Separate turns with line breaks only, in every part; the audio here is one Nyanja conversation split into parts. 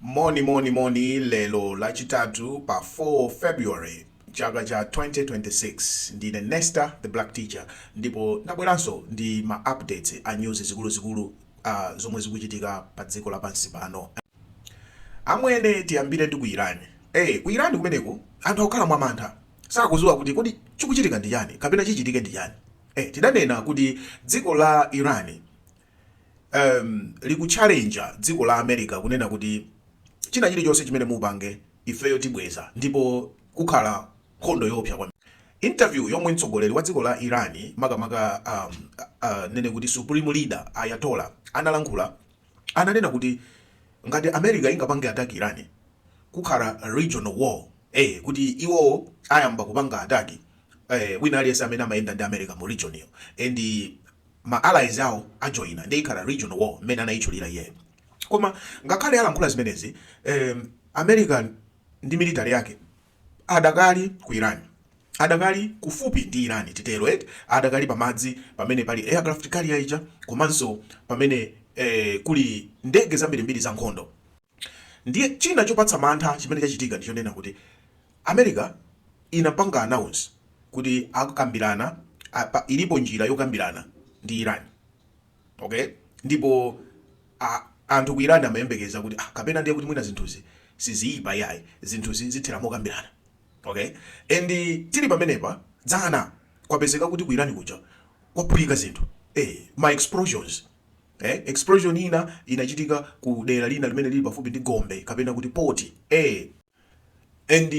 moni moni moni lero lachitatu pa 4 february chaka cha 2026 ndine nesta the black teacher ndipo ndabweranso ndi ma updates a news zikuluzikulu uh, zomwe zikuchitika pa dziko lapansi pano amwene tiyambire ndi ku irani eh ku irani kumeneko anthu akukhala mwamantha sakudziwa kuti kodi chikuchitika ndi chani kapena chichitike ndi chani eh, tidanena kuti dziko la iran um, likutchalenja dziko la america kunena kuti china chilichonse chimene mupange ifeyo tibweza ndipo kukhala nkhondo yoopsa kwambiri interview yomwe mtsogoleri wa dziko la iran makamaka um, uh, nene kuti supreme leader ayatola analankhula ananena kuti ngati America ingapange attack Iran kukhala regional war ee kuti iwowo ayamba kupanga attack ee wina aliyense amene amayenda ndi America mu region iyo and ma allies awo ajoina nde ikhala regional war mmene anayitchulira iyeyo koma ngakhale alankhula zimenezi ee America ndi military yake Adakali ku Iran. Adakali kufupi ndi Iran, titero eti? Adakali pamadzi pamene pali aircraft carrier ija komanso pamene eh, kuli ndege zambirimbiri za nkhondo. Ndiye china chopatsa mantha chimene chachitika ndi chonena kuti America inapanga announce kuti akambirana a, ilipo njira yokambirana ndi Iran. Ok, ndipo a anthu ku Iran amayembekeza kuti ah, kapena ndiye kuti mwina zinthuzi siziyipa iyayi, zinthuzi zithera mokambirana. Ok, and tili pamenepa dzana kwapezeka kuti ku Iran kuja kwaphulika zinthu eh, ma explosions Eh, explosion ina inachitika ku dera lina limene lili pafupi ndi gombe kapena kuti poti eh, and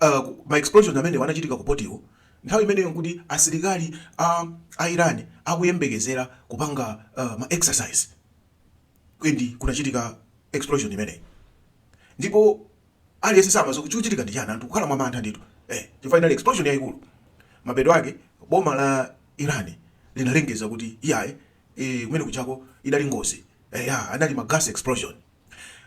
uh, ma explosion amenewo anachitika ku potiwo nthawi imeneyo nkuti asilikali a, a iran akuyembekezera kupanga uh, ma exercise then kunachitika explosion imeneyi ndipo aliyense samadziwa chikuchitika ndi chani anthu kukhala mwa mantha ndithu eh, chifukwa inali explosion yayikulu mapeto ake boma la iran linalengeza kuti iyayi eh, kumene kujako idali ngozi eh, ya, anali ma gas explosion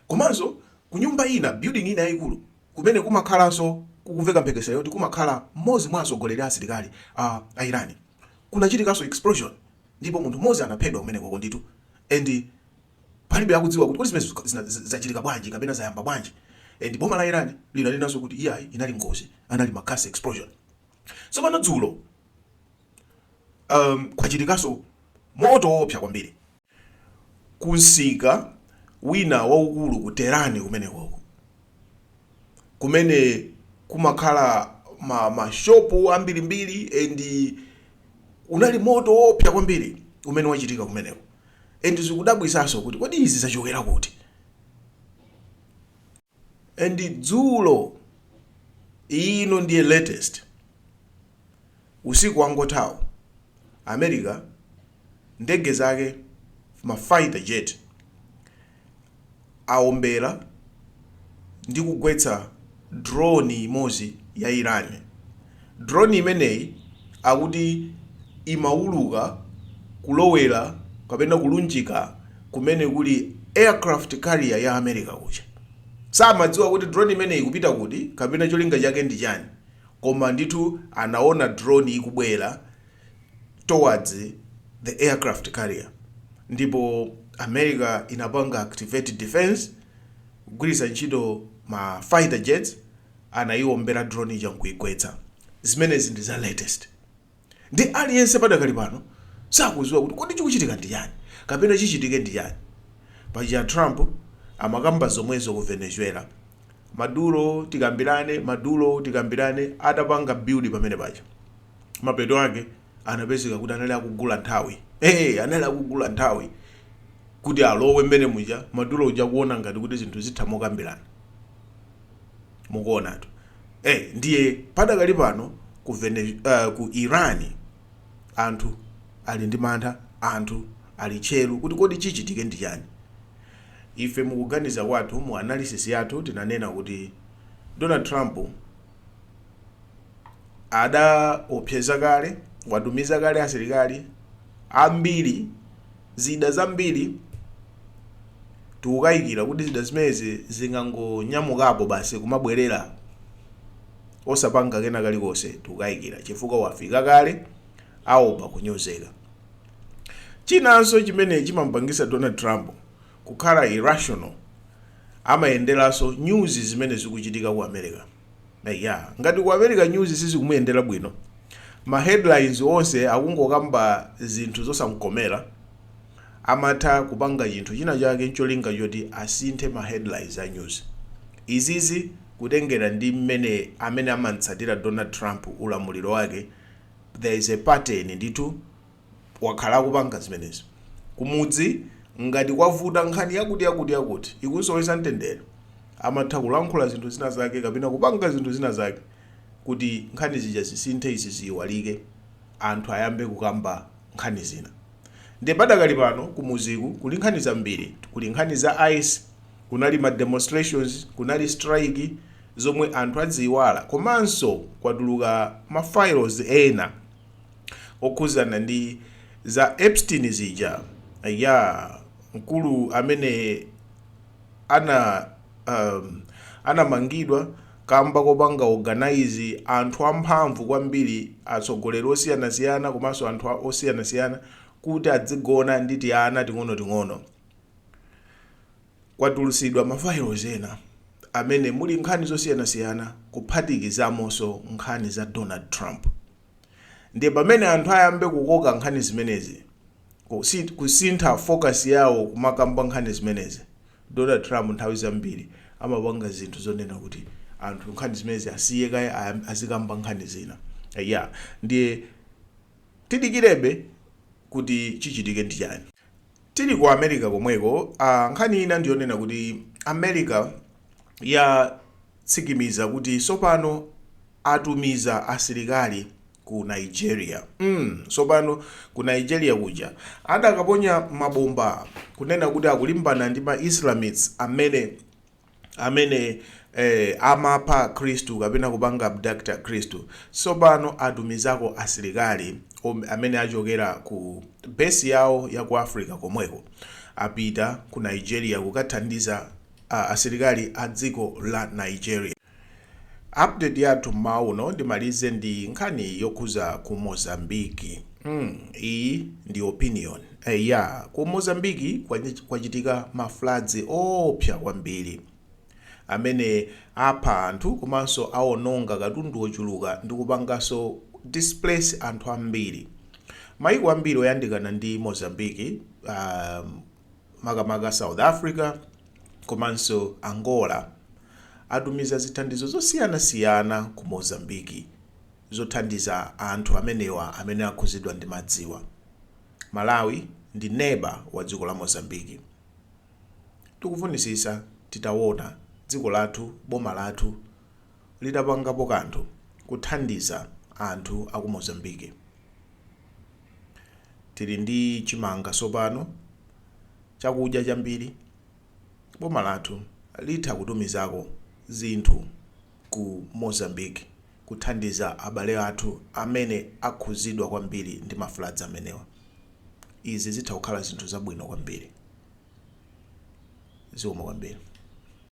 Komanso kunyumba ina, building ina yaikulu, kumene kumakhalanso kukumveka mphekesera yoti kumakhala mmodzi mwa atsogoleri a asilikali a a Iran, kunachitikanso explosion ndipo munthu mmodzi anaphedwa kumenekoko ndithu and palibe akudziwa kuti kodi zimenezo zachitika bwanji kapena zayamba bwanji and boma la Iran linanenanso kuti iyayi inali ngozi, anali ma gas explosion. Tsopano dzulo um, kwachitikanso moto woopsa kwambiri. ku msika wina waukulu ku Tehran kumeneko, kumene kumakhala ma ma shopu ambirimbiri and unali moto woopsa kwambiri umene wachitika kumeneko and zikudabwitsanso kuti kodi izi zachokera kuti? and dzulo ino ndiye latest usiku wangothawu america ndege zake ma fighter jet aombera ndi kugwetsa drone imodzi ya iran Drone imeneyi akuti imauluka kulowera kapena kulunjika kumene kuli aircraft carrier ya America kuja. Samadziwa kuti drone imeneyi ikupita kuti kapena cholinga chake ndi chani koma ndithu anaona drone ikubwera towards the aircraft carrier ndipo America inapanga activate defense kugwiritsa ntchito ma fighter jets anayiombera drone ija nkuigwetsa. zimenezi ndi za latest ndiye aliyense padakali pano sakudziwa kuti kodi chikuchitika ndi chani kapena chichitike ndi chani. paja trump amakamba zomwezo ku venezuela maduro tikambirane maduro tikambirane atapanga build pamene paja mapeto ake anapezeka kuti anali akugula nthawi ee anali akugula nthawi kuti alowe mmene muja maduro uja kuona ngati kuti zinthu zitha mokambirana. mukuonatu eh, ndiye padakali pano ku, Vene, uh, ku iran anthu ali ndi mantha anthu ali tcheru kuti kodi chichitike ndi chani ife mukuganiza kwathu mu analysis yathu tinanena kuti donald trump adaopseza kale watumiza kale asilikali ambiri zida zambiri Tikukayikira kuti zida zimenezi zingangonyamukapo basi kumabwerera osapanga kena kalikonse. Tikukayikira chifukwa wafika kale, aopa kunyozeka. Chinanso chimene chimamupangitsa Donald Trump kukhala irrational, amayenderanso news zimene zikuchitika ku America. Eya, ngati ku America news sizikumuyendera bwino, ma headlines onse akungokamba zinthu zosamkomera, amatha kupanga chinthu china chake ncholinga choti asinthe ma headlines a news. Izizi kutengera ndi mmene amene amamtsatira Donald Trump ulamuliro wake there is a pattern ndithu. wakhala akupanga zimenezi kumudzi ngati kwavuta nkhani yakuti yakuti yakuti ikumusowetsa mtendere amatha kulankhula zinthu zina zake kapena kupanga zinthu zina zake kuti nkhani zija zisinthe izi ziyiwalike anthu ayambe kukamba nkhani zina nde padakali pano kumudziku kuli nkhani zambiri kuli nkhani za ice kunali ma demonstrations kunali strike zomwe anthu adaziyiwala komanso kwatuluka ma files ena okhuzana ndi za Epstein zija ayaa mkulu amene ana um, anamangidwa kamba kopanga organize anthu amphamvu kwambiri atsogoleri osiyanasiyana komanso anthu osiyanasiyana kuti adzigona ndi tiana ting'onoting'ono Kwatulutsidwa ma files ena amene muli nkhani zosiyanasiyana kuphatikizaponso nkhani za Donald Trump. Ndiye pamene anthu ayamba kukoka nkhani zimenezi, kusintha focus yawo kumakamba nkhani zimenezi, Donald Trump nthawi zambiri amapanga zinthu zonena kuti anthu nkhani zimenezi asiye kaye azikamba nkhani zina. Eya, ndiye tidikirebe kuti chichitike ndi chani. Tili ku America komweko, a nkhani ina ndiyonena kuti America yatsimikiza kuti sopano atumiza asilikali ku Nigeria. mm sopano ku Nigeria kuja adakaponya mabomba kunena kuti akulimbana ndi ma Islamists amene. amene eh, amapha akhristu kapena kupanga abduct akhristu tsopano atumizako asilikali amene achokera ku besi yawo ya ku africa komweko apita ku nigeria kukathandiza ah, asilikali a dziko la nigeria Update yathu m'mawa uno ndimalize ndi nkhani yokhuza ku Mozambique mm iyi ndi opinion eya ku Mozambique kwachitika ma floods oopsa kwambiri amene apha anthu komanso awononga katundu ochuluka ndikupanganso displace anthu ambiri maiko ambiri oyandikana ndi Mozambique um, makamaka South Africa komanso Angola, atumiza zithandizo zosiyanasiyana ku Mozambique zothandiza anthu amenewa amene akhudzidwa ndi madziwa. Malawi ndi neba wa dziko la Mozambique. Tikufunitsitsa titawona dziko lathu, boma lathu, litapangapo kanthu kuthandiza anthu aku Mozambique. Tili ndi chimanga sopano, chakudya chambiri, boma lathu litha kutumizako zinthu ku Mozambique kuthandiza abale athu amene akhuzidwa kwambiri ndi ma floods amenewa. Izi zitha kukhala zinthu zabwino kwambiri. Zikomo kwambiri.